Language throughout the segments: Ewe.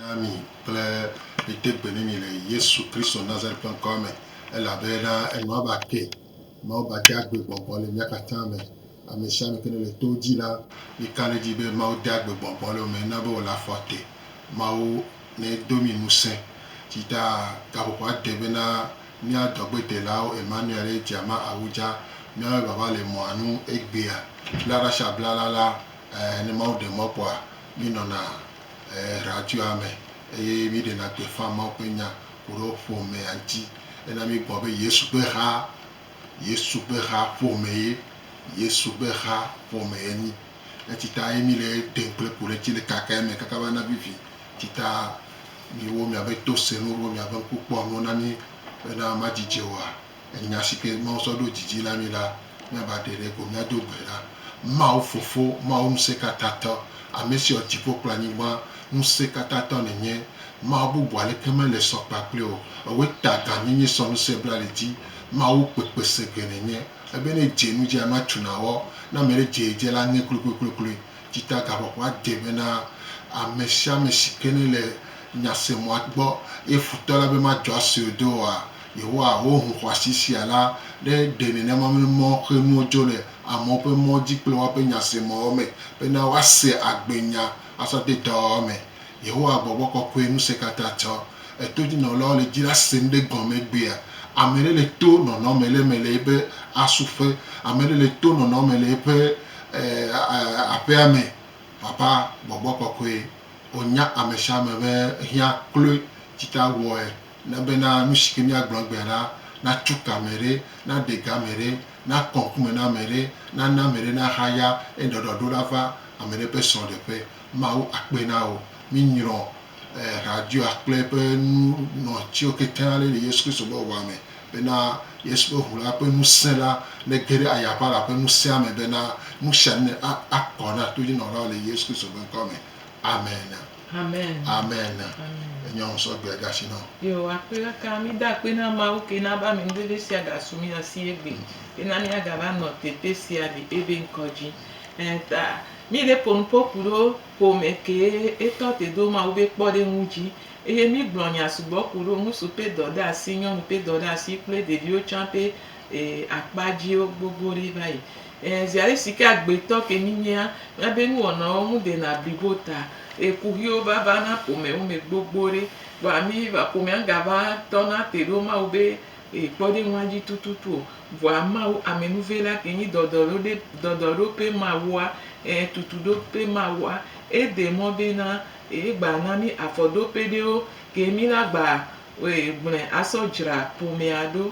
Na mi kple mi de gbe ne mi le Yesu Kristo Nazareth ƒe ŋkɔa me, elabena enɔ abe ake, Mawu ba de agbe gbɔgbɔ le mia katã me. Ame sia ame ke ne le to dzi la, mi ka ɖe edzi be Mawu de agbe gbɔgbɔ le wo me, na be wòle afɔ te. Mawu nedo mi ŋusẽ. Tsi ta gaƒoƒoa de be na mía dɔgbedelawo Emmanuel eye dzia ma awu dza. Míawoe vava le mɔa nu egbea. Bla ɖa sha bla la la, ɛɛ, ne Mawu ɖe mɔ kpɔa, mi nɔna. ɛɛ, radioa me eye míeɖena gbeƒã Mawu ƒe nya ku ɖe wo ƒomea ŋuti. Ena míekpɔ be Yesu ƒe ha, Yesu ƒe ha ƒomee, Yesu ƒe ha ƒomee enyi. Eti ta ye míle eɖem kple ku ɖe ŋuti le kaka eme kaka be ana vivi. Eti ta miwo miabe to sẽnuwo, miabe ŋku kpɔ nuwo na mí bena madzi dze oa? Enya si ke Mawu sɔ ɖo dzi dzi na mí la, míava ɖe ɖe ko míado gbe ɖa. Mawu Fofo, Mawu Ŋusẽkatãtɔ, Ame si wɔ dziƒo kple anyigba, Ŋusẽkatãtɔ nènye. Mawu bubu aleke mele sɔ kpakple wò. Èwɔe ta gãnyenye sɔ ŋusẽ bla le dzi. Mawu kpekpesege nènye. Ebe ne èdze nu dzi anɔ atsu nàwɔ. Ne ame ɖe dze edze la, aŋe kloekloekloekloe. Dzitagaƒoƒoa de be na ame sia ame si ke nele nyasemɔa gbɔ, eye futɔ la be madzɔ asue do oa, Yehowa wɔ ŋu xɔasi sia la ɖe ɖe nenema be mɔ xe nuwo dzo le amewo ƒe mɔ dzi kple woaƒe nyasemɔwo me bena woase agbenya azɔ de dɔwɔwɔ me. Yehowa gbɔgbɔ kɔkɔe ŋusẽkatã tsɔ etodzinɔlawo le dzi la se nu ɖe gɔme egbea. Ame aɖe le to nɔnɔ me le eme le eƒe asuƒe. Ame aɖe le to nɔnɔ me le eƒe aƒea me. Papa gbɔgbɔ kɔkɔe, wò nya amesiame be ehiã kloe tsita wɔe. Na bena nusi ke míagblɔ egbea ɖa natso ke ame ɖe, naɖe ga ame ɖe, nakɔ ŋkume na ame ɖe, nana ame ɖe nahaya eye ɖɔɖɔɖo nava ame ɖe ƒe srɔ̃ɖeƒe. Mawu akpe na wò. Minyrɔ radioa kple eƒe nunɔtiwo kekeŋ ale le Yesu Kristo ƒe ʋua me bena Yesu ƒe ʋu la ƒe ŋusẽ la nege ɖe ayaʋala ƒe ŋusẽa me bena nusianu akɔ na todzinɔlawo le Yesu Kristo ƒe ŋkɔ me. Amen. Amen. Amen. Amen. Enye ŋu sɔ gbɛ gasi nɔ. Yo akpe kaka mi da akpe na Mawu ke na ba mi ŋdede sia ga su mi asi egbe. Ke na mi aga va nɔ tete sia li ebe ŋkɔ dzi. Eh, ta mi le ponu po ku ɖo ƒome ke etɔ te do Mawu be kpɔ ɖe ŋu dzi. Eye mi gblɔ nya sugbɔ ku ɖo ŋusu pe dɔ ɖe asi, nyɔnu pe dɔ ɖe asi kple ɖeviwo tsã pe eh, akpa dzi wo gbogbo ɖe va yi. Ɛɛ, ziaɖe si ke agbetɔ ke mí nyea, míabe nuwɔnawo ŋu dena blibo ta. Eye kuxiwo va vana ƒomewo me gbogbo ɖe, vɔa mí va, ƒomea ŋgava tɔna te ɖo Mawu be e, kpɔɖeŋua dzi tututu o. Vɔa Mawu, amenuvela ke nyi dɔdɔɖoɖe, dɔdɔɖoƒe Mawua, ɛɛ, tutuɖoƒe Mawua. Ede mɔ bena yegba na mí afɔɖoƒe ɖewo ke mí la gba, e, gblɔe asɔ dzra ƒomea ɖo.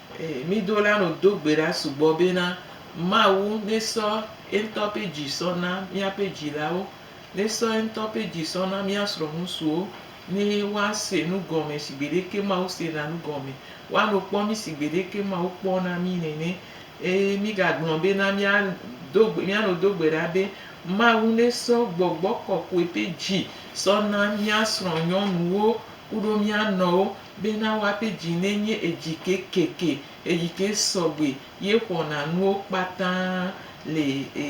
Eye mído la nɔ do gbe ɖa sugbɔ bena, Mawu nésɔ yeŋutɔ ƒe dzi sɔ na míaƒe dzilawo, nésɔ yeŋutɔ ƒe dzi sɔ na mía srɔ̃ŋutsuwo, ne woase nu gɔme si gbeɖeke Mawu sena nu gɔme, woano kpɔ mí si gbeɖeke Mawu kpɔna mí nene. Eye mígagblɔ bena, Míado gbe, míanɔ do gbe ɖa be, Mawu nésɔ gbɔgbɔ kɔkɔe ƒe dzi sɔ na mía srɔ̃nyɔnuwo, kuɖo mía nɔwo bena woape dzi nenye edzi kekeke eyike sɔgbe ye xɔna nuwo kpata le e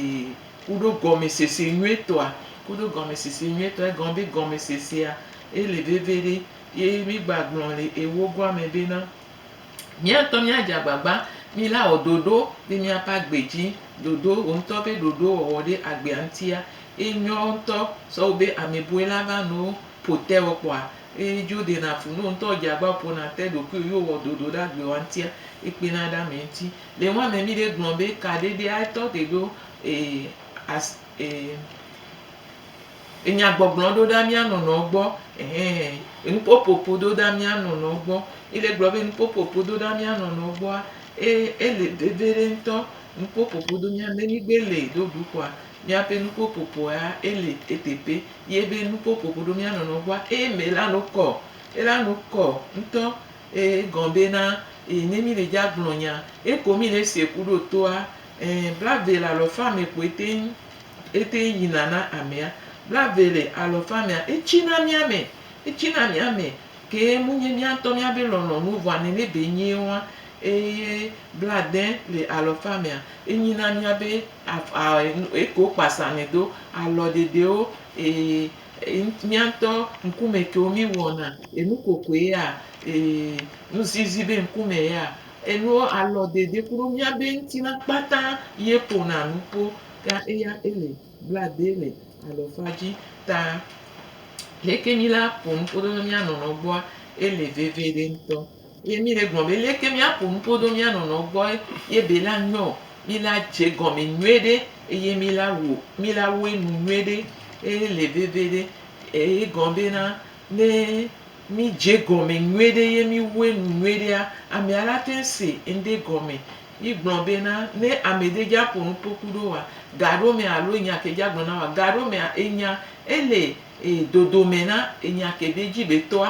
kuɖo gɔmesese nyuitɔa kuɖo gɔmesese nyuitɔa egɔme be gɔmesesea ele veviɖe ye mi gba gblɔ le ewogoa me bena mía ŋutɔ mía dze agbagba mi la wɔ ɖoɖo be mía ƒe agbe dzi ɖoɖo wò ŋutɔ ƒe ɖoɖo wɔwɔ ɖe agbea ŋutia enyo ŋutɔ sɔwu be ame bɔe la va nɔwo. ƒo te wɔ kpɔa, eyi dzo ɖena fu no ŋtɔ dzi agba ƒona te ɖokuiwo yo wɔ ɖoɖo ɖe agbewa ŋtia yi kpena ɖe ame ŋti. Le ŋua me mi ɖe gblɔ be ka ɖeɖe a tɔ te ɖo e as e enya gbɔgblɔ ɖo ɖa mia nɔnɔwo gbɔ ɛhɛ enu popopo ɖo ɖa mia nɔnɔwo gbɔ yi le gblɔ be enu popopo ɖo ɖa mia nɔnɔwo gbɔa e ele vevi ɖe ŋtɔ enu popopo ɖo mia ne mi gbe le ɖo ɖukua. Míaƒe nupopopoa ele eteƒe ye be nupopopo ɖo mía nɔnɔ ŋua eye me la no kɔ. Ela no kɔ ŋutɔ eye egɔ be na eye ne mi le dza gblɔ nya eye ko mi le se ku ɖo toa ẽ blave le alɔ fa me koe teŋ ete ŋu yina na amea. Blave le alɔ fa mea etsi na mía me etsi na mía me ke mu nye mía ŋutɔ mía be lɔlɔ̃ nu vɔa nene be nyee woa. eye blaade le alɔfa mea, enyi na mía be eke wokpa samɛ do, alɔ ɖeɖewo, mía ŋutɔ ŋkume kewo mí wɔna, enu kokoe ya, nuzizi be ŋkume ya, enuwo alɔ ɖeɖe kuɖo mía be ŋutilã kpata ye ƒona nu kpo ta eya ele blaade le alɔfa dzi ta. Leke mí la ƒo nu koɖo mía nɔnɔ gbɔa? Ele veviɖe ŋutɔ. Ye mí le gblɔ be leke mía ƒo nu ƒo ɖo mía nɔnɔwo gbɔ ye be la nyɔ o, mí la dze gɔme nyuie ɖe eye mí la wɔ, mí la wɔe nu nyuie ɖe eye le veve ɖe. Eye gɔme be na, ne mí dze gɔme nyuie ɖe ye mí wɔe nu nyuie ɖea, amea la te ŋu se ŋɖe gɔme. Mí gblɔ be na, ne ame ɖe dza ƒo nu ƒo ku ɖo wa, ga ɖo mea alo enya ke dza gblɔ na wa, ga ɖo mea enya ele dodo me na enya ke be dzi be tɔa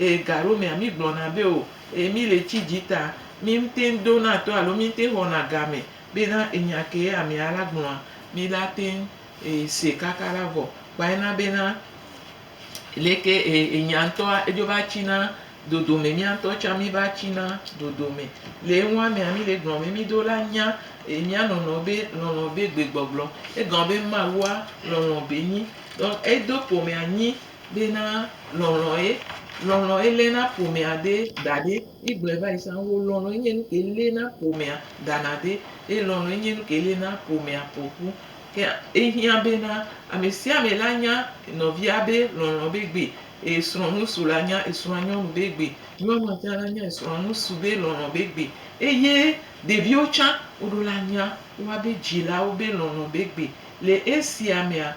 Ee, gaɖewomea, mígblɔna be, O, ee, míle tsi dzi ta. Míŋteŋ dona to alo míŋteŋ xɔna game bena enya kee amea la gblɔa, míla teŋ see kaka la vɔ. Kpɔe na bena leke enya ŋutɔa edzo va tsina dodome, mía ŋutɔ tsã míva tsina dodome. Le enua mea, míle gblɔm be mído la nya mía nɔnɔewo be lɔlɔ̃ be gbegbɔgblɔ. Egɔme be Mawua lɔlɔ̃ be nyi. Donk, edo ƒomea nyi Bena lɔlɔ ye, lɔlɔ ye lena ƒomea de daɖɛ. Yi gblɔɛ vayi sã wo lɔlɔ ye nye nuke lena ƒomea dana de eye lɔlɔ ye nye nuke lena ƒomea ƒoƒu. Ke ehiã bena amesiame la nya nɔvia be lɔlɔ be gbe eye srɔ̃ ŋusu la nya esrɔ̃a nyɔnu be gbe. Nyɔnua tsã la nya esrɔ̃a ŋusu be lɔlɔ be gbe eye ɖeviwo tsã woɖo la nya woabe dzilawo be lɔlɔ be gbe. Le esia mea,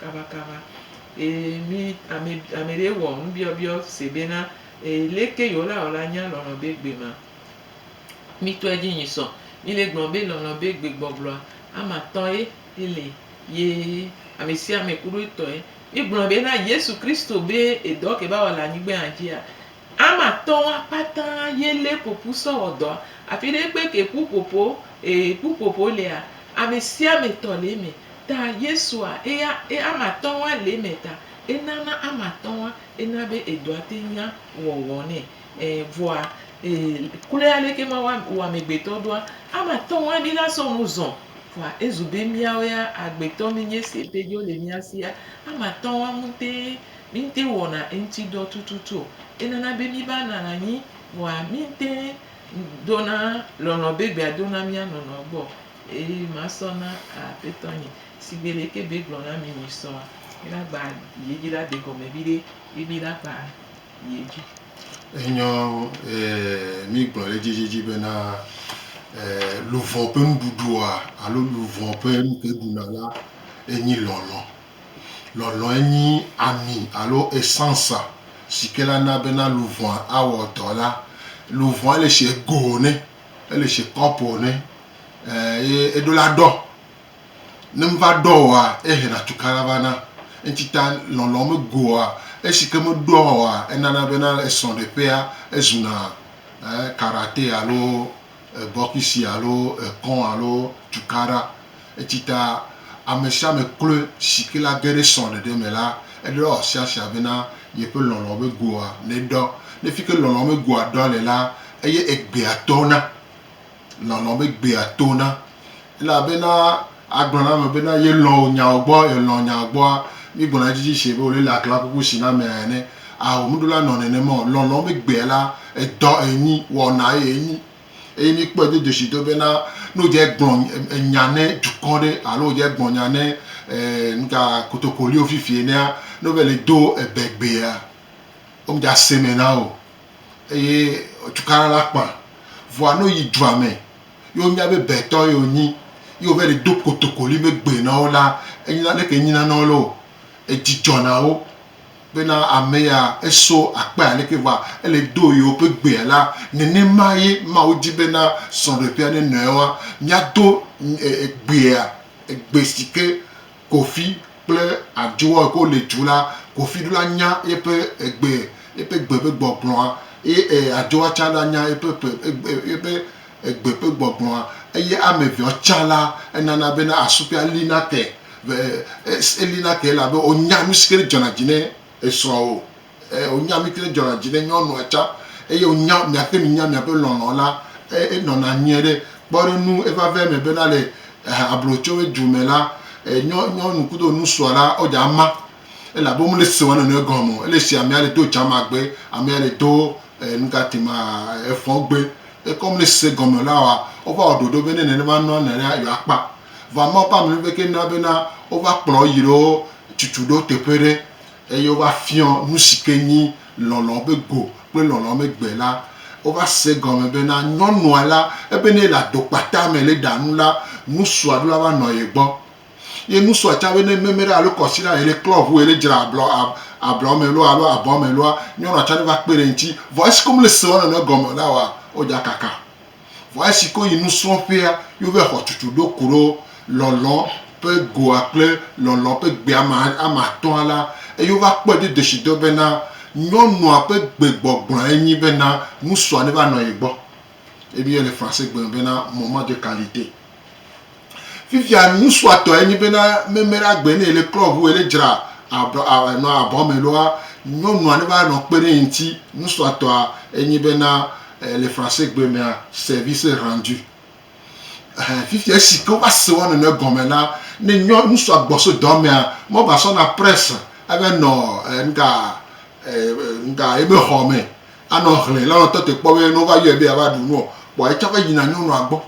Kabakaba, ee, mi, ame, ame ɖee wɔ nubiɔbiɔ se bena, ee, leke yewolawɔ la nya lɔlɔ̃ be gbe ma? Mitɔe dzi nyi sɔ. Mi le gblɔ be lɔlɔ̃ be gbe gbɔgblɔa, ama tɔ ye ele, ye ame sia ame kuɖo etɔe. Mi gblɔ be na Yesu Kristo be edɔ ke ba wɔ le anyigbea dzia, Ame atɔ̃ wa kpata ye lé ƒoƒu sɔ wɔ dɔa. Afi ɖe kpe ke ƒuƒoƒo ee ƒuƒoƒo lea, ame sia ame tɔ le eme. Ta Yesua eya e ame atɔ̃ wa le eme ta enana ame atɔ̃ wa ena be edɔa te nya wɔwɔ nɛ. E vɔa ee kloe aleke Mawu wa wɔ amegbetɔ ɖoa, ame atɔ̃ wa mi la sɔ nu zɔ. Vɔa ezu be miawo ya agbetɔ mi nye esi ete dzo le mia sia. Ame atɔ̃ wa ŋutee Míŋtɛŋ wɔna eŋuti dɔ tututu o. Enana be míva nana anyi nɔa míŋtɛŋ dona lɔlɔ̃ be gbea do na mía nɔnɔewo gbɔ o. Eye masɔ na Aƒetɔ nye. Sigbe leke be gblɔ na mi misɔa, míla gba ye dzi la de gɔme viɖe ye míla gba ye dzi. Enyɔ e mígblɔ ɖe edzi edziedzi bena, e luvɔ ƒe nuɖuɖua alo luvɔ ƒe nuke ɖuna la enyi lɔlɔ̃. Lɔlɔ̃e nyi ami alo essence si ke la na bena luʋɔa awɔ dɔ la. Luʋɔa ele sie go ne, ele sie cup ne ye eɖo la ɖɔ. Ne meva ɖɔ oa, ehe na tukã la va na. Eŋuti ta lɔlɔ̃ me goa, esi ke me ɖɔ oa, enana bena esrɔ̃ɖeƒea ezu na karaté alo. bɔkisi alo ekɔ alo tukaɖa eti ta ame sia ame kloe si ke la ge ɖe srɔ̃ ɖeɖe me la eɖɔ sia sia bena yeƒe lɔlɔ̃ be goa ne ɖɔ ne fike lɔlɔ̃ be goa ɖɔ le la eye egbea tɔna lɔlɔ̃ be gbea tona Elabena agblɔ na ame bena yelɔ̃ wò nyawo gbɔ, yelɔ̃ nyawo gbɔa, míegblɔna edzi dzi shie be wòle le aklakuku shi na amea ene. Ao, nuɖola nɔ nenema o. Lɔlɔ̃ be gbea la, edɔ enyi, wɔna ye enyi. Eye míkpɔe dodo shi do bena, ne wodze gblɔ enya ne dukɔ ɖe alo wodze gblɔ nya ne e nuka kotokoliwo fifi enea, ne wova yi le do ebe gbea, womedze ase me na wò o. Eye cukaɖa la kpã. Vɔa ne woyi dua me ye wonya be Betɔ ye wonyi ye wova yi ɖe do kotokoli be gbe na wo la, enyina leke nyina na wo loo. Edzi dzɔ na wo bena ame ya eso akpe aleke vɔa ele do yewoƒe gbea la. Nenema ye Mawu di bena srɔ̃ɖeƒea nenɔe woa, míado gbea, gbe si ke. Kofi kple Adjoa yike wole du la, Kofi ɖo la nya yeƒe egbe, yeƒe gbe ƒe gbɔgblɔa ye e Adjoa tsã ɖo anya yeƒe ƒe egbe yeƒe egbe ƒe gbɔgblɔa eye ame eveawo tsã la enana bena asukpea li nate be e e li nate elabe wonya nusike dzɔna dzi ne esrɔ̃ wo. Eye wònya mí kple dzɔna dzi ne nyɔnua tsã, eye wònya miaƒe nunya, miaƒe lɔlɔ̃ la, eye nɔna nyuie ɖe. Kpɔ ɖe ŋu evavɛ me bena le ablotsoe du me la, nyɔ, nyɔnu kudo ŋusua la, wo dza ma, elabe wome le se wo nɔnɔe gɔme o. Ele se amea le do dzamagbe, amea le do nugati ma efɔgbe. Eke wome le se gɔme la wa, wova wɔ ɖoɖo be ne nenema nɔa nɔ la, yewoa kpa. Vɔa Mawu ƒe amenuveve ke na bena wova kplɔ wo yi ɖe wo tutu ɖo teƒe ɖe. eye wova fiɔ nusi ke nyi lɔlɔ be go kple lɔlɔ me gbe la, wova se egɔme bena nyɔnua la, ebe ne ele adokpata me le ɖa nu la, nusua ɖo la va nɔ ye gbɔ. Ye nusua tsa be ne meme ɖe alo kɔsiɖa yele klɔ ʋu yele dzra ablɔ ablɔ me loa alo abɔ me loa, nyɔnua tsa ɖo va kpe ɖe eŋti. Vɔ esike womele se wo nɔnɔe gɔme o la wɔa, wodza kaka. Vɔ esi ke woyi nusrɔ̃ƒea, wova xɔ tsutsu ɖo ku ɖo Lɔlɔ̃ ƒe Goa kple Lɔlɔ̃ ƒe Gbea me ame atɔ̃a la, eye wova kpɔe do dzesitɔ bena nyɔnua ƒe gbegbɔgblɔe nyi bena ŋutsua neva nɔ ye gbɔ. Ebia le Fransegbe me bena, Moment de qualité. Fifia nusuatɔe nyi bena meme ɖa gbe ne le club wo ele dzra nɔ abɔ me loa nyɔnua ne va nɔ kpe ɖe ŋti nusuatɔa enyi bena le français gbe mea service rendu eh fifia esi ke wova se wa nene gɔme la ne nyɔ nusua gbɔ so dɔ mea mɔ va sɔ na presse ave nɔ nga nga ebe xɔ me anɔ hlɛ la nɔ tɔte kpɔ be ne wova yɔe be ya va ɖu nuɔ kpɔ etsa va yina nyɔnua gbɔ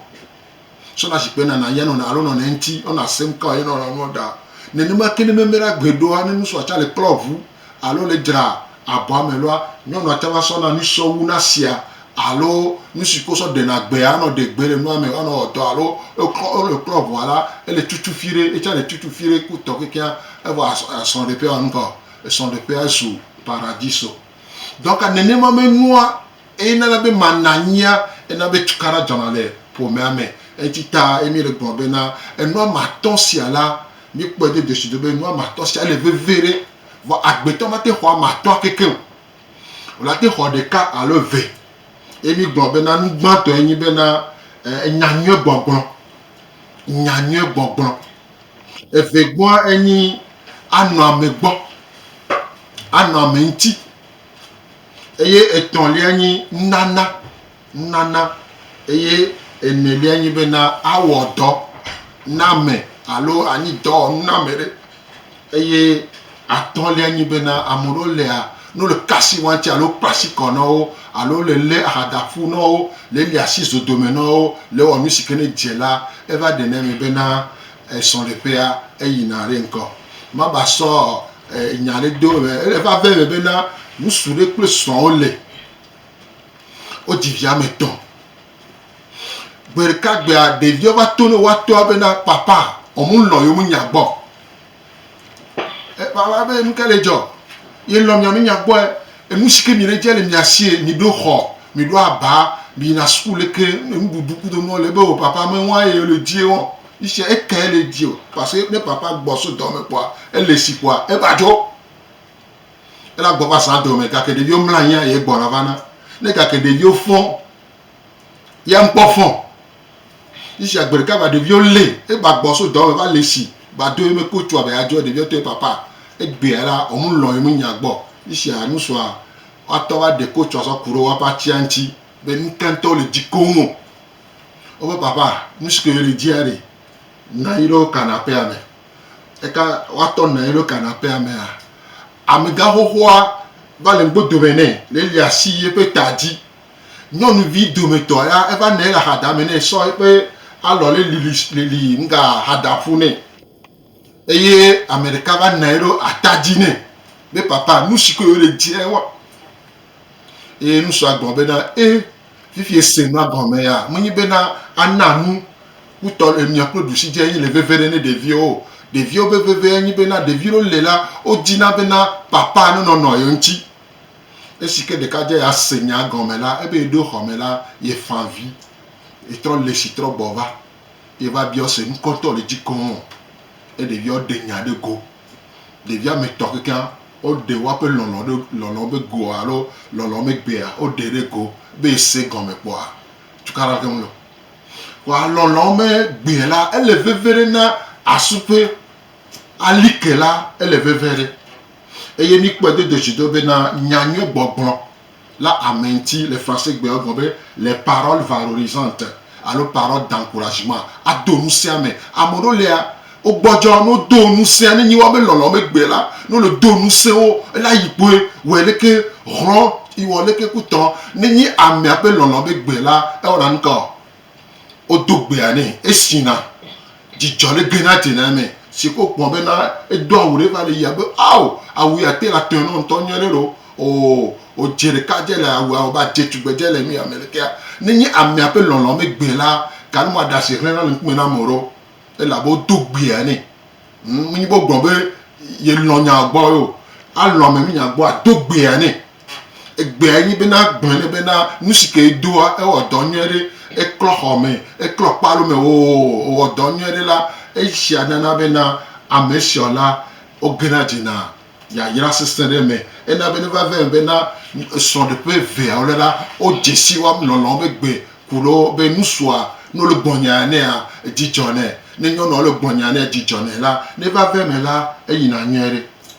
sɔna zikpui nana ya nɔna alo nɔna eŋti ɔna sem ka ye nɔna nua ɖa nenema ke ne meme ɖa gbe ɖoa ne nusɔ atsa le klɔ ʋu alo le dzra abɔa me loa nyɔnua tsa va sɔna nusɔ wu na sia alo nusi ko sɔ ɖena gbe anɔ ɖe gbe le nua me anɔ ɔdɔ alo eklɔ ɔle klɔ ʋua la ele tutu fi ɖe etsa le tutu fi ɖe ku tɔ kekea evɔ asrɔ ɖe ƒe wa nuka esrɔ ɖe ƒe azu paradiso dɔka nenema me nua Eye nana be mananyia ena be tukaɖa dzɔna le ƒomea me. Eŋti ta ye mi le gblɔ be na enua me atɔ sia la, mi kpɔe do desuido be enua me atɔ sia ele veve ɖe. Vɔ agbetɔ ma te xɔ ame atɔa kekeŋ o. Wòla te xɔ ɖeka alo eve. Ye mi gblɔ be na nugbãtɔ ye nyi be na enya nyuie gbɔgblɔ. Nya nyuie gbɔgblɔ. Eve gbɔa enyi anɔ ame gbɔ. Anɔ ame ŋti. Eye etɔ̃lia nyi nunana, nunana. Eye enelia nyi bena awɔ dɔ na ame alo anyi dɔwɔnu na ame ɖe. Eye atɔ̃lia nyi bena ame ɖewo lia, ne wole ka asi wɔm tse alo wokpla asi kɔ na wo alo wole lé aha da ƒu na wo, le lia asi zodomɛ na wo, le wɔ nu si ke ne dze la, eva ɖenɛ me bena Esrɔ̃ɖeƒea, eyina ɖe ŋkɔ. Maba sɔ nya ɖe do eme. Ele vave me bena ŋutsu ɖe kple srɔ̃a wole. Wodzi vi ame etɔ̃. Gbe ɖeka gbea, ɖeviwo va to ne woatɔa bena, Papa, womelɔ̃ yewo nunya gbɔ o. Papa be, Nu ka le dzɔ? Yelɔ̃ mia nunya gbɔ. Enu si ke miɖe dze le mia sie, miɖo xɔ, miɖo aba, miyina suku leke nuɖuɖu kudo nuawo le. Ebe o, Papa, mewa ye le dzi o. Ŋutsuɛ eke ele dzi o parce ne papa gbɔ so dɔme kpɔa ele si kpɔa eva dzo. Ela gbɔ va zã dɔme gake ɖeviwo mla anyia ye gbɔna va na. Ne gake ɖeviwo fɔ ya ŋkpɔ fɔ. Ŋutsuɛ gbe ɖeka va ɖeviwo le eva gbɔ so dɔme va le si va do ye me ko tsua be ya dzo ɖeviwo tɔ ye papa egbea la ɔmu lɔ ye me nya gbɔ. Ŋutsuɛ nu sua wa tɔ va ɖe ko tsua zɔ ku ɖe woa ƒe atsia ŋtsi be nuka ŋtɔ le dzi koŋ o. Wobe papa nusike yeli dzia ɖi nanyi ɖo kanapea me eka woatɔ nanyi ɖo kanapea mea amega xoxoa va le ŋgbo dome nɛ le li asi yeƒe ta dzi nyɔnuvi dometɔ ya eva nanyi le axadame nɛ sɔ yeƒe alɔ le lili lili ŋga axadaƒu nɛ. Eye ame ɖeka va nɔe ɖo ata dzi nɛ be, Papa, nu si koe wòle di ewɔ. Eye ŋutsua gblɔ bena, E, fifi ese nua gɔme ya, menye bena ana nu kutɔ le mia kple ɖusi dze enye le veve ɖe ne ɖeviwo o. Ɖeviwo ƒe veve enye bena ɖevi ɖewo le la, wodina bena papa nenɔ nɔ ye ŋuti. Esi ke ɖekadze ya se nyaa gɔme la, ebe yeɖo xɔme la, yefa avi. Yetrɔ le si trɔ gbɔ va. ye va biɔ se nukɔ ŋtɔ le dzi keŋ ɔ, ye ɖeviawo ɖe nya ɖe go. Ɖevi ametɔ kekeŋa wo ɖe woaƒe lɔlɔ ɖe lɔlɔ be goa alo lɔlɔ me gbea wo ɖe ɖe go be ye se gɔme kpɔa tukaɖa keŋ lɔ. Vɔa lɔlɔ me gbe la ele veve ɖe na asu ƒe alike la ele veve ɖe. Eye mi kpɔe dodo dzi do be na nya nyuie gbɔgblɔ. La amenti le Fransegbe egɔme be les paroles valorisantes alo paroles d'encouragement, ado ŋusẽa ame. Ame ɖewo lia, wogbɔdzɔ ne wodo ŋusẽa, nenye woabe lɔlɔ̃ megbe la, ne wole do ŋusẽ wo, ele ayi kpoe, wɔe leke hlɔ̃, wɔ leke kutɔ. Nenye amea ƒe lɔlɔ̃ megbe la, ewɔna nukaɔ? Wodo gbea nɛ, esina dzidzɔ ɖe Grenade dzena me si ke wokpɔ bena edo awu ɖe va le yia be, Ao, awu ya te le atɔe nɔ ŋutɔ nyuie ɖe ɖo. Oo, wòdze ɖeka dze le awua me be adze tugbedze le nu ya me lekea. Nenye amea ƒe lɔlɔ̃ megbe la, ganu ma ɖe asi hlẽna le ŋkume na ame ɖewo elabe wodo gbea nɛ. Menye be wogblɔ be yelɔ̃ nyaa gbɔ ye o. Alɔ̃ ame nunya gbɔ, ado gbea nɛ. Egbea nyi be na gblɔe ne be na nusi ke edoa ewɔ dɔ nyuie ɖe. Eklɔ xɔme, eklɔ kpalo me oo ewɔ dɔ nyuie ɖe la, esia nana be na amesiɔ la wogena dzena yayra sesẽ ɖe me. Ena be ne va va eme be na srɔ̃ɖeƒe eveawo le la, wo dzesi wɔm lɔlɔ be gbe ku ɖo be nusua no le gbɔnye enea edzi dzɔ nɛ. Ne nyɔnua le gbɔnye enea edzi dzɔ nɛ la, ne va va eme la eyina nyuie ɖe.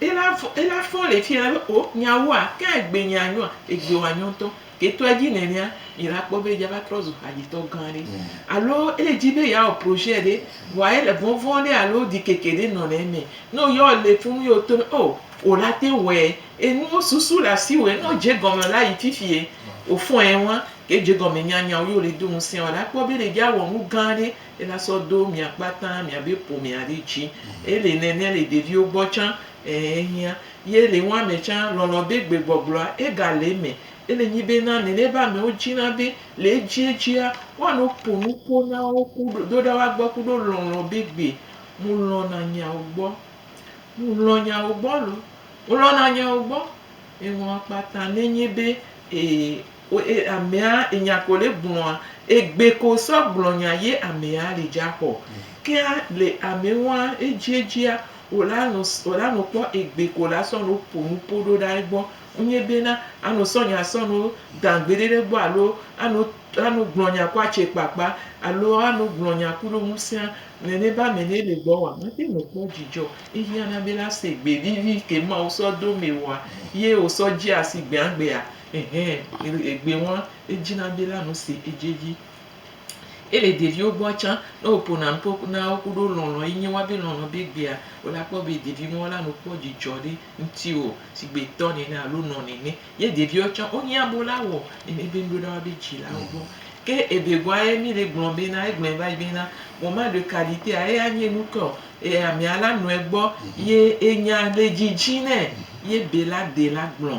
Ela fɔ, ela fɔ le fiya be o, miawoa, ke egbe nyea nyoa, egbe wa nyɔ ŋutɔ. Ke to edzi nenea, mi la kpɔ be yava trɔ zu hadzitɔ gã ɖe. Alo ele dzi be yeawɔ projet ɖe, vɔa ele vɔvɔ̃ ɖe alo ɖikeke ɖe nɔ le eme. Ne o yɔ le funu ye o to be o, o la te ŋu wɔɛ. Enuwo susu le asiwòe, ne o dze gɔme la yi fifie o fɔ̃e ŋua, ke edze gɔme nyanya wo ye o le do ŋusẽ o la kpɔ be ele dzi awɔ nu gã ɖe. Ela sɔ do mia kpata mia be ƒomea ɖe dzi. Ele nɛnɛ le ɖeviwo gbɔ tsã. Ɛɛ ehiã. Ye le ŋua me tsã, lɔlɔ be gbegbɔgblɔa, ega le eme. Ele nyi be na nɛnɛ be amewo dzina be le edziedzia, woano ƒo nuƒo na wo ku ɖo ɖo ɖa woa gbɔ ku ɖo lɔlɔ be gbe. Mu lɔna nyawo gbɔ. Mu lɔ nyawo gbɔ lo. Mu lɔna nyawo gbɔ. Eŋua kpata nɛ nyi be e E amea enya ko le gblɔa egbe ko sɔ gblɔ nya ye amea le dza xɔ kea le ame wa ejie jia o la no o la no kpɔ egbe ko la sɔ no po nu po ɖo ɖa egbɔ ŋnye be na ano sɔ nya sɔ no dan gbe ɖe ɖe gbɔ alo ano ano gblɔ nya ko atse kpakpa alo ano gblɔ nya ku ɖo ŋusea le ne ba me ne le gbɔ wa ma te no kpɔ dzidzɔ ehiana be la se gbe vivi ke ma o sɔ do me wa ye o sɔ dzi asi gbea gbea. Ɛhɛ, egbe ŋua, edzi na be la nu si edzi edzi. Ye le ɖeviwo gbɔa tsã, ne wo ƒona nu ƒo na wo kuɖo lɔlɔ yi nye woa be lɔlɔ be gbea, wo la kpɔ be ɖevi ŋua la nu kpɔ dzidzɔ ɖe ŋuti o sigbe tɔ nene alo nɔ nene. Ye ɖeviwo tsã wo hiã be wo la wɔ nene be nuɖe woa be dzila wo gbɔ. Ke ebe gɔa ye mi le gblɔ be na, egblɔɛ va yi be na, vɔ ma ɖe ka ɖi tea eya nye nu ke o. E amea la nɔɛ gbɔ ye enya le dzidzi nɛ ye be la de la gblɔ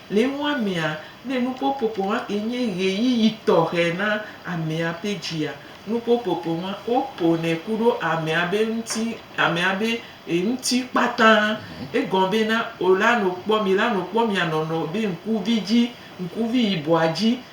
Le nua mea, ne nuƒoƒoƒo ma ke nye ɣeyiɣi tɔxɛ na amea ƒe dzia, nuƒoƒoƒo ma woƒonɛ ku ɖo amea be ŋuti, amea be e ŋuti kpata. Egɔme be na wòla nu kpɔ, mìla nu kpɔ mìa nɔnɔ be ŋkuvi dzi, ŋkuvi yibɔa dzi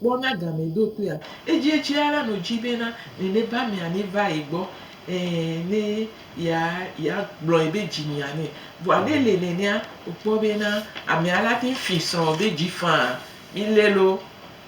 Kpɔ na game do toea. Edzie tsia la no dji bena nene ba mia ne va ye gbɔ e ne ya ya gblɔe be dji mia ne. Vɔa ne le nenea o kpɔ bena amea la te fi srɔ be dji faa. Mi le lo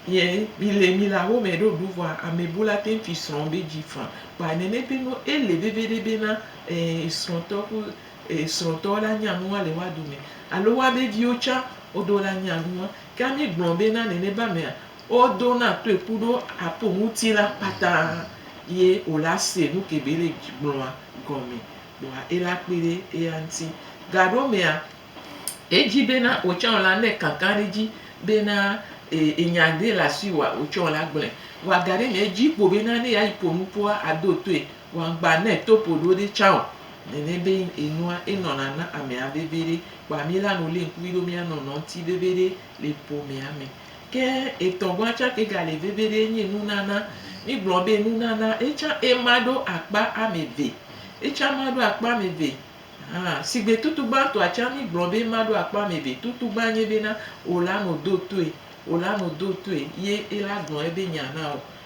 ye mi le mi le awo me ɖo ɖu vɔa ame bu la te fi srɔ be dji faa. Kpɔa nene be no ele veveɖe bena e srɔ tɔ ku e srɔ tɔ la nya nua le woa dome. Alo woa be viwo tsa wodo la nya nua. Ke mígblɔ be na nenema mea, wodo na toe ku ɖo apo ŋuti la kpata ye o la se nu ke be le gblɔa gɔme kpɔa ela kpe ɖe eya ŋuti. Gaɖo mea, edzi be na wò tsɛ o la ne kankan ɖe edzi be na enya ɖe le asiwòa, wò tsɛ o la gblɔe. Vɔa ga ɖe mea, edzi kpo be na ne yeayi ƒo nu kpɔa, àdo toe. Wangba ne eto po ɖo ɖe tsa o. Nene be enua enɔna na amea veviɖe. Kpa mi la nu li ŋkuvi ɖo mia nɔ nɔ ŋti veviɖe le ƒomea me. Ke etɔ gɔa tsa ke ga le veviɖe nyi nunana. Mi gblɔ be nunana etsa ema ɖo akpa ameve. Etsa ma ɖo akpa ameve hã. Sigbe tutu gba tɔa tsa mi gblɔ be ema ɖo akpa ameve. Tutu gba nye be na ola no do toe. Ola no do toe ye ela gblɔ ebe nya na o.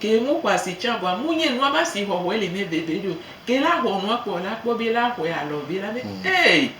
Ke nu xɔasi tsã bua mu nye nua ma si xɔxɔe li ne veve ɖo. Ke la xɔ nua kpɔ la kpɔ be la xɔe alɔ ve la be, Hey!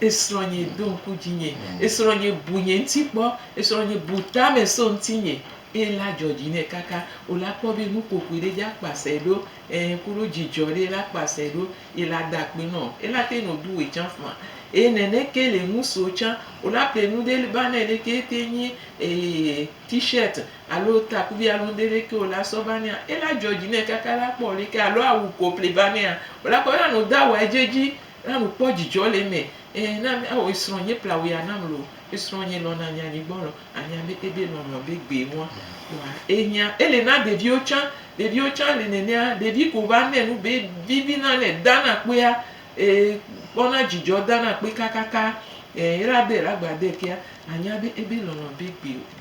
Esrɔ̃nye do ŋku dzinye, esrɔ̃nye bu nye ŋuti kpɔ, esrɔ̃nye bu tame so ŋutinye. Eye la dzɔ dzi nɛ kaka. O la kpɔ be nukokoe ɖe dza kpasɛ ɖo, ẽ, kuɖo dzidzɔ ɖe la kpasɛ ɖo. Ye la da akpe nɔ. Ye la te nɔ do we tsã faa. Eye nɛnɛke le nusuo tsã. O la ple nu ɖe ba nɛ ɖe ke te nyi, e, T-shirt alo takuvi alo ŋɖe ɖe ke o la sɔ va nɛa, ela dzɔ dzi nɛ kaka la kpɔ ɖe ke alo awu ko ple va nɛa, o la kɔ na nu da wa edze dzi na nu kpɔ dzidzɔ le eme. Eɛ na mi ao esrɔ nye ple awu ya nam lo. Esrɔ nye lɔ na nya nyigbɔ lɔ anya be ebe lɔlɔ be gbe ŋua kpoa enyia. Ele na ɖeviwo tsã, ɖeviwo tsã le nenea, ɖevi ko va nɛ nu be vivi na nɛ da na kpea e kpɔ na dzidzɔ da na kpe kakaka. Eɛ ela de la gba de kea anya be ebe lɔlɔ be gbe.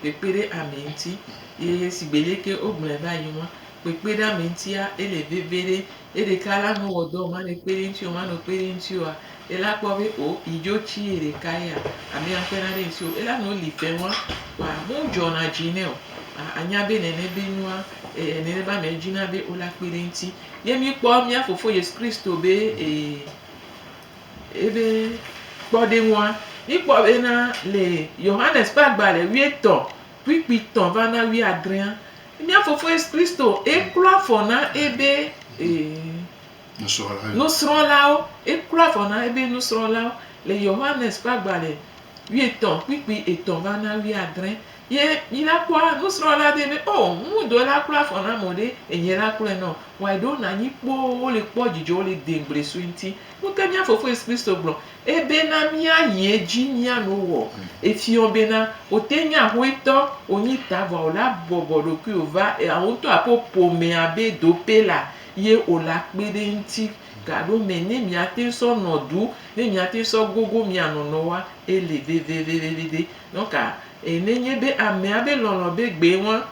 Kpekpe ɖe ame ŋuti ye sigbe lé ke wo gblɔe va yi ŋua, kpekpe ɖe ame ŋutia ele veve ɖe eɖeka la me wɔ dɔ ma ne kpe ɖe ŋuti o ma no kpe ɖe ŋuti oa, ela kpɔ be o yi dzo tsi ye ɖeka yea ame ya kpe na ɖe ŋuti o. Ela no li ƒe ŋua kpɔa me dzɔ na dzi nɛ o. A nya be nene be nua e nene be ame dzi na be o la kpe ɖe ŋuti. Ye mi kpɔ mía fofo Yesu Kristo be e. Ebe kpɔɖeŋua, míkpɔ bena le Yohanes ƒe agbalẽ wuietɔ̃ kpukpuitɔ̃ va na wuiadrẽa, mía Fofo Yesu Kristo eklɔ afɔ na ebe nusrɔ̃lawo. Eklɔ afɔ na ebe nusrɔ̃lawo le Yohanes ƒe agbalẽ wuietɔ̃ kpukpui etɔ̃ va na wuiadrẽ. Ye mi la kpɔa nusrɔ la be be oh ŋu dɔe la kpla afɔ na mɔ ɖe enye la kplɔe nɔ wɔe ɖo na nyi kpoo wo le kpɔ dzidzɔ wo le de ŋgble sue ŋti. Nu ke mia fofo yesu kristo gblɔ ebe na mia yi edzi mia no wɔ efiɔ be na wo te nyi ahoe tɔ wo nyi ta vɔa wo la bɔbɔ ɖokui wo va ea wo ŋtɔ aƒo ƒomea be do pe la ye wo la kpe ɖe ŋti ga ɖo me ne mia te sɔ nɔ du ne mia te sɔ gogo mia nɔnɔ wa ele vevevevevede. Nɔ ka e ne nye be amea be lɔlɔ be gbee ŋua?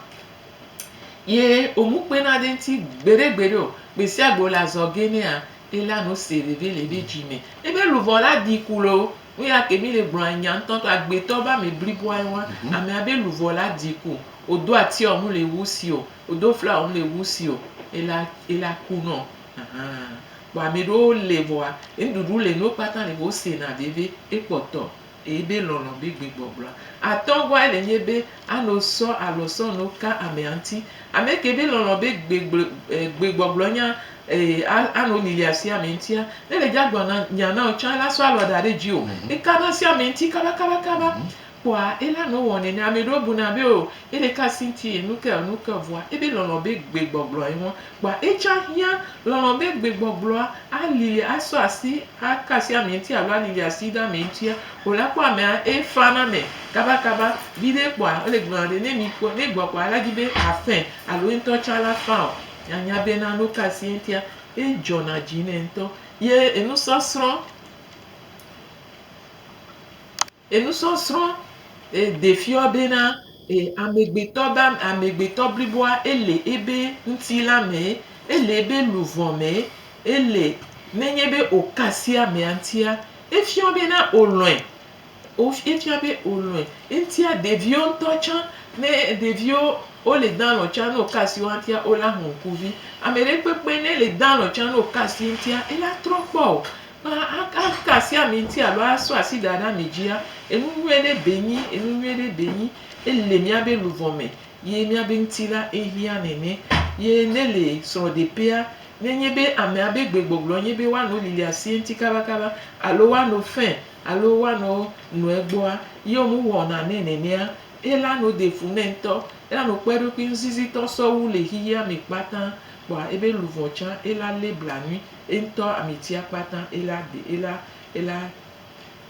Ye o mu kpe na de ŋti gbeɖe gbeɖe o. Gbesiagbe o le azɔ ge nea, e la nu se veve le ebe dzi me. Ebe luvɔ la di ku loo. Nu ya ke mi le gblɔ anya ŋtɔ ŋtɔ. Agbetɔ be ame bliboa ye ŋua. Amea be luvɔ la di ku. O do atia o nu le wu si o. O do fla o nu le wu si o. E la, e la ku nɔ. Ahan. Kpɔ ameɖewo le vɔa, ŋɖuɖu le nu wo kpata le vɔ o se na veve. E kpɔtɔ. Eyi be lɔlɔ̃ be gbegbɔgblɔa atɔ gɔa ele nye be ano sɔ alo sɔ no ka amea ŋuti. Ame ke be lɔlɔ̃ be gbegble e gbegbɔgblɔ nya e a ano lili asi ame ŋutia, ne le dza gblɔ na nya na wò tsã ela sɔ alɔ da ɖe dziwò eka na asi ame ŋuti kaba kaba kaba kpɔa ela no wɔ nɛnɛ. Ame ɖewo buna be o ele ka asi ŋuti enu ke enu ke vɔa ebe lɔlɔ̃ be gbegbɔgblɔ ye ŋua Kpa etsã hiã lɔlɔ̃ be gbegbɔgblɔa ali asɔ asi aka asi amee ŋuti alo alili asi ɖe amee ŋutia o la, kpɔ amea efaa na ame kabakaba viɖe kpɔa ele gblɔna be ne mi kpɔ ne gbɔ kpɔa ela di be afɛ alo ye ŋutɔ tsã la fã o. Anya be na no ka asi ye ŋutia edzɔna dzi nɛ ŋutɔ ye enusɔsrɔ̃. Enusɔsrɔ̃ defiɔ be na amegbetɔ be amegbetɔ bliboa ele ebe ŋutilã me, ele ebe luvɔ me, ele nenye be oka asi amea ŋutia, efiɔ be na olɔ̃e, efiɔ be olɔ̃e. Eŋutia ɖeviwo ŋutɔ tsã, ne ɖeviwo wole dã lɔ̃ tsã ne oka asi woa ŋutia, wola ŋku vi. Ameɖekpekpe ne le dã lɔ̃ tsã ne oka asi eŋutia, ela trɔ kpɔ o. Aka asi ami ŋuti alo asɔ asi da ɖe ami dzia, enu nyuie ɖe be nyi, enu nyuie ɖe be nyi. Ele míabe luʋɔ me ye míabe ŋutilã ehiã nene. Ye ne le srɔ̃ɖeƒea, ne enye be amea be gbegbɔgblɔ nye be woanɔ lili asi eŋuti kabakaba alo woanɔ fe alo woanɔ nu egbɔa, ye womewɔna nɛ nenea, ela nɔ ɖe fu nɛ ŋutɔ. Elanɔ kpɔ eɖokui ŋuzizitɔ sɔwu le xexeame kpata kpoa ebe luʋɔ tsã ela lé blanui. Eŋtɔ amitsia kpata ela ɖi ela ela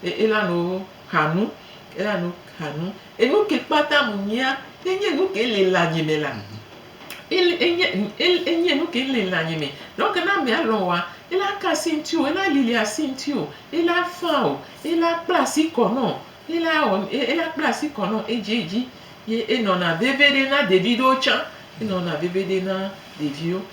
ela no xanu ela no xanu enuke kpata mu nyia enye nuke le le anyi me la ele enye enye nuke le le anyi me donc ne amea lɔ̃ wa ela ka asi ŋti o ela lili asi ŋti o ela fã o ela kpla asi kɔ nɔ ela wɔ ela kpla asi kɔ nɔ edziedzi ye enɔna vevi ɖe na ɖevi ɖewo tsã enɔna vevi ɖe na ɖeviwo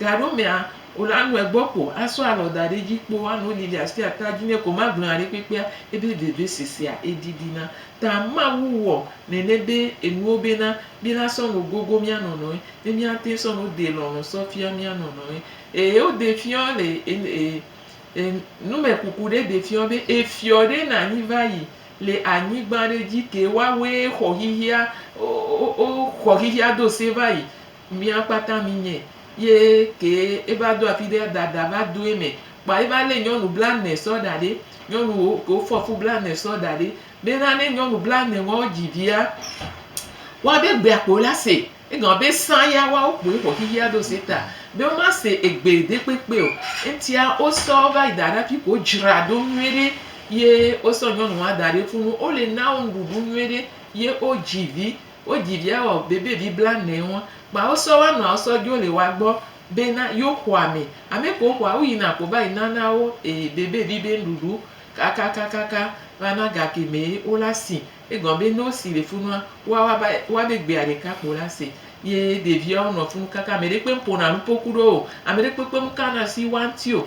Taɖo mea o la nɔe gbɔ ko asɔ alɔ daɖe edzi kpo ano Lilia sti ata dzi nɛ ko magblɔ nya ɖekpekpea ebe veve sesea edidi na ta Mawu wɔ nene be enuwo bena mi la sɔ no gogo mia nɔnɔe be mia teŋ sɔ no de lɔlɔ sɔ fia mia nɔnɔe ee o de fiɔ le e nume kuku ɖe de fiɔ be efiɔ ɖe na nyi vayi le anyigba ɖe dzi ke wa we xɔ xixia o xɔ xixia do se vayi. Mía kpata mi nye ye kee eva do afi ɖe dada va do eme kpoa eva le nyɔnu bla ne sɔ da ɖe nyɔnu wo ke wo fɔ fu bla ne sɔ da ɖe be na ne nyɔnu bla ne wa wo dzi via wa be gbea kpo la se egɔme be sa ya wa wo kpo ye xɔ xixia ɖo se ta be wo ma se egbe ɖe kpekpe o eŋtia wo sɔ wo va yi da ɖe afi ko dzra ɖo nyuie ɖe ye wo sɔ nyɔnu wa da ɖe funu wo le na wo nuɖuɖu nyuie ɖe ye wo dzi vi Wo dzi via wa wo bebe vi bla nɛ wo kpa wo sɔ wa nua wo sɔ jo le wa gbɔ be na yo xɔa me ame ko xɔa wo yi na ko va yi na na wo e bebe vi be nuɖuɖu kakakakaka va na ga ke me wo la si e gɔn be no si le funua wa wa ba wa be gbea ɖeka kpo la se ye ɖevia wo nɔ funu kaka ame ɖe kpe ƒona nuƒo ku ɖo o ame ɖe kpekpe mu kana si wa ŋti o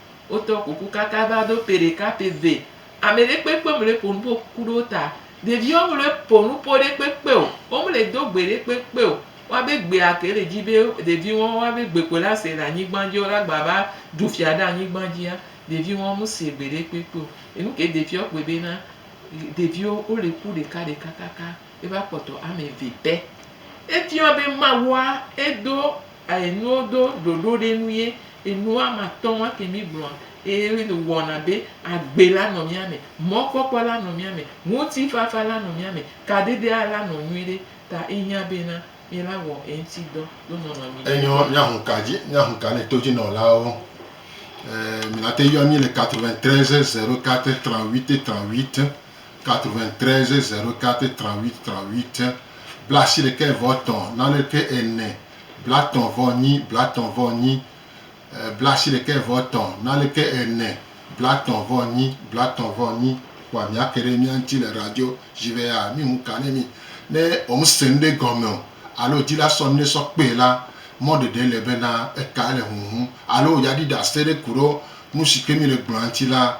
Wotɔ kuku kaka va do ƒe ɖeka ƒe ve. Ame ɖe kpekpe mele ƒo nu ƒo kuku ɖewo ta. Ɖeviwo mele ƒo nu ƒo ɖe kpekpe o. Wo mele do gbe ɖe kpekpe o. Wa be gbea ke le dzi be ɖevi ŋɔ wa be gbe ko la se le anyigba dzi wola gba va ɖu fia ɖe anyigba dzia, ɖevi ŋɔ me se gbe ɖe kpekpe o. Enu ke ɖeviwo kpɔe be na ɖeviwo wole ku ɖeka ɖeka kaka eva kpɔtɔ ame ve pɛ. Efiɔ be Mawua edo Eye nuwo do ɖoɖo ɖe nu ye enu ame atɔ̃ ma ke mí gblɔa, eye wɔna be agbe la nɔ mía me, mɔkpɔkpɔ la nɔ mía me, ŋutifafa la nɔ mía me, kadedea la nɔ nyuiɖe, ta ehiã be na mí la wɔ eŋuti dɔ do nɔnɔme nyui Enyo me. míahu ka dzi, míahu ka ne todzinɔlawo. Ee, mìnate yɔ mí le 93 04 38 38 93 04 38 38 Blaasiɖekɛ vɔ etɔ̃ naneke ene Blatɔ̃ vɔ enyi Blatɔ̃ vɔ enyi Blaasiɖekɛ vɔ etɔ̃ naneke ene Blatɔ̃ vɔ enyi Blatɔ̃ vɔ enyi Kpɔa mìake ɖe mía ŋuti le radio dzi be aa mí ŋu ka ne mí ne womese nuɖe gɔme o alo dzila sɔ nuɖe sɔ kpee la, mɔ ɖeɖe le bena eka ele huhum alo yeaɖi ɖase ɖe ku ɖo nu si ke mí le gblɔa ŋuti la.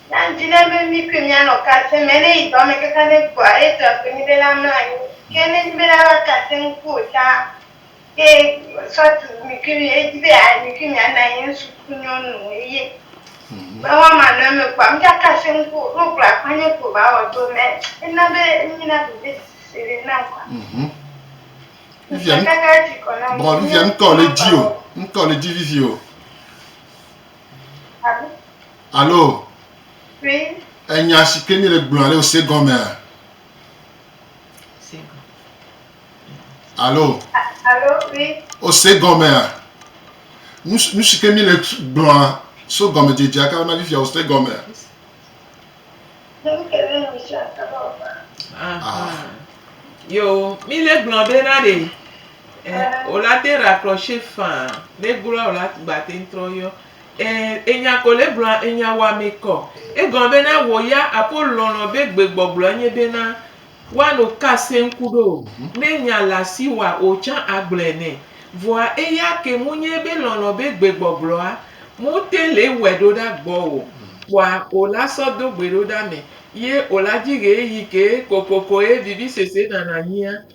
Ya ŋdi ne be mí koe míanɔ kasem eye ne yi dɔ me kaka ɖe egbɔa, eye dɔa ƒo nɛ be la mlɔ anyi. Ke ne enye be la va kasem ŋku o ta ye sɔ tu mi kui mi edi be ya mi kui mianɔ anyi ŋsu ku nyɔnu eye me wa ma nɔ eme kpɔa, mí ga kasem ŋku o, ɖo gblɔa kpɔ nye ko va wɔ do mɛ. Ena be enyi na veve sese ɖe nam kpɔa. Mhm. Vivia, Ŋsa kaka etsi kɔ na mi. Bon, Vivia, ŋkɔ le dzi o. Ŋkɔ le dzi vivi o. Alo? Alo enya si ke míele gblɔm alo se gɔmea? Alo ose gɔmea? Nu si ke míele gblɔa so gɔmedzedzea ka ma fifia ose gɔmea? Yo, míele gblɔ ɖe na ɖe. Wòla te ɖakplɔ se faa. Ne gblɔa wòla gbateŋ trɔ yɔ. E, enya ko le gblɔa enya wɔame kɔ. Egɔme bena wò ya apo lɔlɔ be gbegbɔgblɔ enye bena woano ka se ŋku ɖo o. Ne nya le asi wa o tsã agblɔe nɛ. Vɔa eya ke mu nye be lɔlɔ be gbegbɔgblɔa mu te le wɛ ɖo ɖa gbɔ o. Kpɔa o la sɔ do gbe ɖo ɖa me ye o la dzi ɣeeɣi ke kokokoe vivisese nana nyia.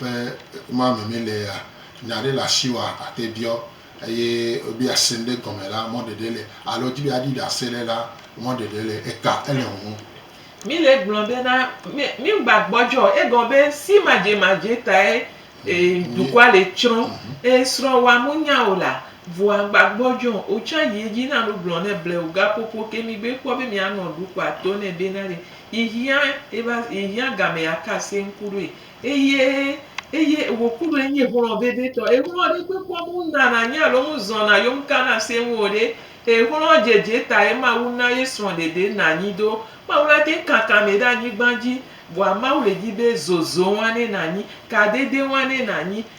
Ƒe ma me mele ya, nya ɖe le asi wa ate biɔ eye be ase ŋɖe gɔme la, mɔ ɖeɖe le alo dzi be aɖi ɖase le la, mɔ ɖeɖe le eta ele ŋu. Mi le gblɔ be na mi mi ŋgba gbɔdzɔ o egɔ be si madze madze tae e dukɔa le tsrɔ e srɔ wa mu nya o la vɔa ŋgba gbɔdzɔ o o tsa yi edzi na nu gblɔ ne ble o ga popo ke mi gbe kpɔ be mia nɔ dukɔa to ne be na ɖe yi hia e va yi hia gamea ka se ŋku ɖoe. Eye, eye wòku ɖe enye xlɔ̃ vevitɔ. Exlɔ̃ ɖe kpekpɔ mu ŋdana anyi alo ŋu zɔna yo ŋu kana asee ŋu o ɖe, exlɔ̃ dzedze tae Mawu na ye srɔ̃ɖeɖe na anyi do. Mawu la te kaka mɛ ɖe anyigba dzi, vɔa Mawu le di be zozo wane nanyi, kadede wane nanyi,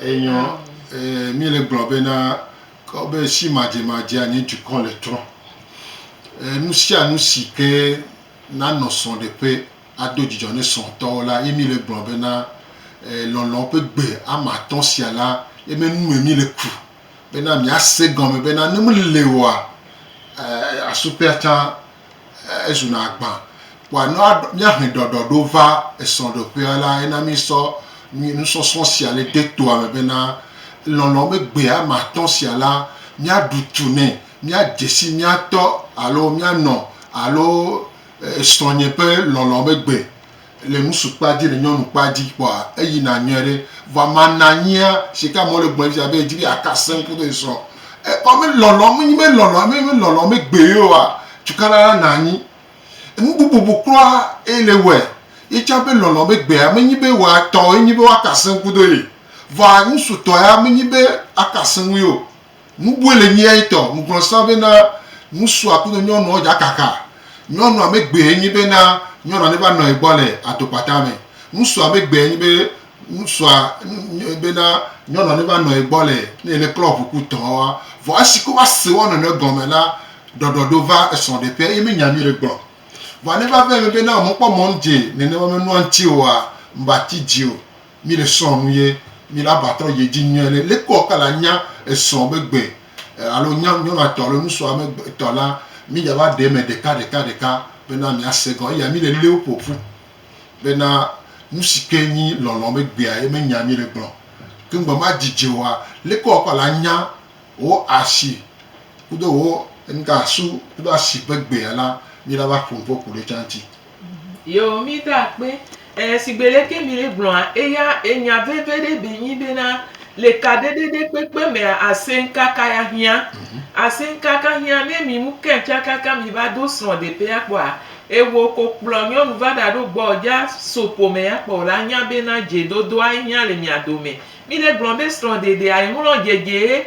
Enyɔ ee mi le gblɔ bena kɔ be si madze madze anyi dukɔ le trɔ. E nu sia nu si ke nanɔ srɔ̃ ɖe ƒe ado dzidzɔ ne srɔ̃ tɔwo la ye mi le gblɔ bena e lɔlɔ ƒe gbe ama tɔ̃ sia la ye me nu me mi le ku bena mia se gɔme bena ne mi le wɔa e asu ƒe atã ezuna agbã. Kpɔa ne míahe ɖɔɖɔɖo va esrɔ̃ɖeƒea la, ena míesɔ nusɔsrɔ̃ sia le de toa me bena, lɔlɔ̃ be gbe ame atɔ̃ sia la, míaɖu tu nɛ, míadze si mía tɔ alo míanɔ alo srɔ̃nye ƒe lɔlɔ̃ be gbe. Le ŋusu kpa dzi, le nyɔnu kpa dzi kpɔa, eyi na nyuie ɖe. Vɔa ama nanyia, shike amewo le gblɔɛ fia be edzi be yeaka sẽŋ kudo esrɔ. E kpɔ me lɔlɔ, me nyi me lɔlɔ, me me lɔlɔ me gbe yeoa, tukana la na anyi. Enu bubu bu kura ye le wɔɛ. Ye tsã be lɔlɔ me gbea, me nyi be wòa tɔ ye nyi be woaka sẽŋ kudo ye. Vɔa ŋusu tɔ ya me nyi be aka sẽŋ yeo. Nubue le nyia etɔ ŋuglɔ sa bena nusua kudo nyɔnuɔ dza kaka. Nyɔnua me gbee nyi bena nyɔnua ne va nɔ egbɔ le adokpata me. Nusua me gbee nyi be nusua bena nyɔnua ne va nɔ egbɔ le ne ele klɔ ʋu ku tɔa. Vɔ esi ke va se woanɔnɔe gɔme la, ɖɔɖɔ ɖo va esrɔ ɖe ƒe eye me nya nyuiɖe gblɔ. Vɔ ne va va eme bena wome kpɔ mɔ ŋdze nenema me nua ŋtsi oa, ŋba ti dzi o. Mi le srɔ̃ nu ye mi la va trɔ yedzi nyuie le le kpɔ ka la nya esrɔ̃ be gbe alo nya nyɔna tɔ alo nusua me gbe tɔ la mi dza va ɖe me ɖeka ɖeka ɖeka be na mi ase gɔ eya mi le le wo ƒoƒu be na nusi ke nyi lɔlɔ me gbea ye me nya mi le gblɔ ke ŋgbe ma dzidze wa le kpɔ ka la nya wo asi kudo wo ŋga su kudo asi be gbea la mi la va ƒo ŋƒe ku le tsa ŋti. Yeo mi da akpe eh sigbe leke mi le gblɔa eya enya veve ɖe be nyi be na le kaɖe ɖe ɖe kpekpe mea asen kaka ya hia asen kaka hia ne mi mu kɛn tsa kaka mi va do srɔ de pe ya kpɔa ewo ko kplɔ nyɔnu va ɖa ɖo gbɔ dza so ƒome ya kpɔ la nya be na dze dodoa hia le mia dome mi le gblɔ be srɔ de de ayi ŋlɔ dze dze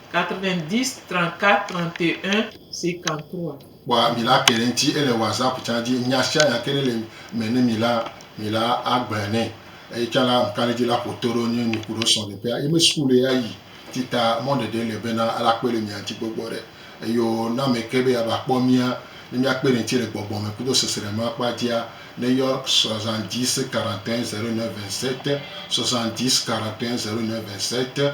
90 34 31 53. Kpɔ mi la ke ɖe ŋti ele WhatsApp can dzi nya sia nya ke ɖe le me ne mi la mi la a gblɔɛ nɛ eye can la ŋka ɖe dzi la ƒoto ɖo nye mi kuɖo srɔ ɖe ƒea yi me school ye ayi ti ta mɔ ɖe ɖe le bena ala kpe le mia ŋti kpe gbɔ ɖe eyo na ame ke be ya va kpɔ mia ne mia kpe ɖe ŋti le gbɔgbɔ me kudo sesre ma kpa dzia ne yɔ 70 41 09 27 70 41 09 27.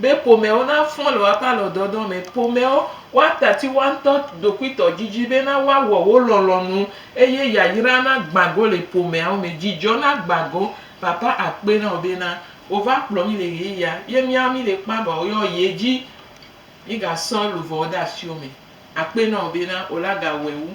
Be ƒomewo nafɔ le woaƒe alɔdɔdɔ me. Ƒomewo, woatati woaŋutɔ ɖokuitɔ dzidzi bena woawɔ wo lɔlɔ̃nu, eye yayra nagbã go le ƒomeawo me. Dzidzɔ nagbã go. Papa akpe na wò bena wòva kplɔ mí le ɣeyiɣia ye míawo míle kpã vɔ woyɔ ye dzi. Mígasɔ luʋɔwo de asiwò me. Akpe na wò bena wòle agawɔe wu.